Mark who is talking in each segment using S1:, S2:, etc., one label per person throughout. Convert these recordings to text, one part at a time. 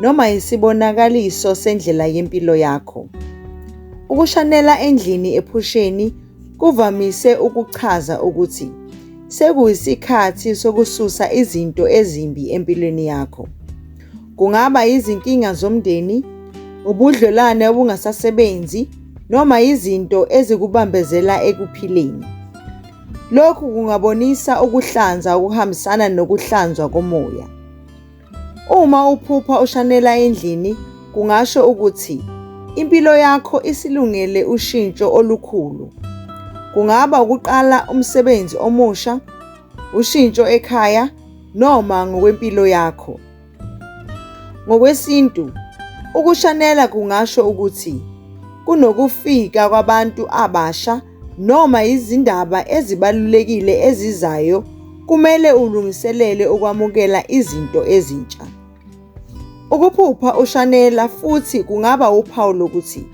S1: noma isibonakaliso sendlela yempilo yakho. Ukushanela endlini ephusheni kuvamise ukuchaza ukuthi sekuyisikhathi sokususa izinto ezimbi empilweni yakho. Kungaba izinkinga zomndeni, ubudlelwane obungasasebenzi noma izinto ezikubambezela ekuphileni. Lokhu kungabonisa ukuhlanza okuhambisana nokuhlanzwa komoya. Uma uphupha ushanela endlini kungasho ukuthi impilo yakho isilungele ushintsho olukhulu. Kungaba ukuqala umsebenzi omusha, ushintsho ekhaya noma ngokwempilo yakho. Ngokwesintu, ukushanela kungasho ukuthi kunokufika kwabantu abasha noma izindaba ezibalulekile ezizayo, kumele ulungiselele ukwamukela izinto ezintsha. Ukuphupha ushanela futhi kungaba uphawu lokuthi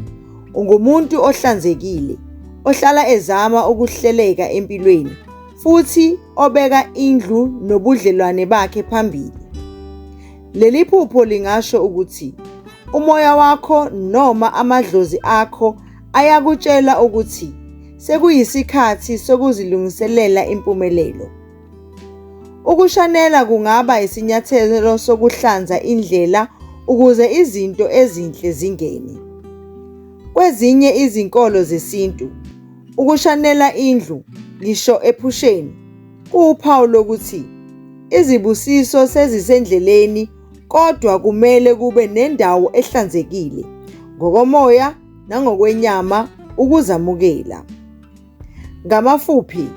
S1: ungumuntu ohlanzekile, ohlala ezama ukuhleleka empilweni futhi obeka indlu nobudlelwane bakhe phambili. Leli phupho lingasho ukuthi umoya wakho noma amadlozi akho ayakutshela ukuthi sekuyisikhathi sokuzilungiselela impumelelo. Ukushanela kungaba isinyathelo sokuhlanza indlela ukuze izinto ezinhle zingene. Kwezinye izinkolo zesintu, ukushanela indlu ngisho ephusheni kuwuphawu lokuthi izibusiso sezisendleleni kodwa kumele kube nendawo ehlanzekile ngokomoya nangokwenyama ukuzamukela. Ngamafuphi,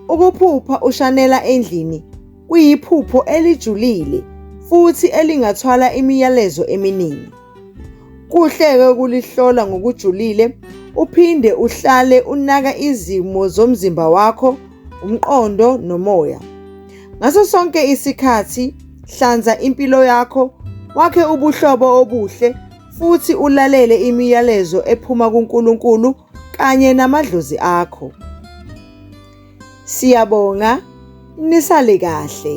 S1: ukuphupha ushanela endlini kuyiphupho elijulile futhi elingathwala imiyalezo eminingi. Kuhle-ke ukulihlola ngokujulile uphinde uhlale unaka izimo zomzimba wakho, umqondo nomoya. Ngaso sonke isikhathi hlanza impilo yakho, wakhe ubuhlobo obuhle futhi ulalele imiyalezo ephuma kuNkulunkulu kanye namadlozi akho. Siyabonga nisale kahle.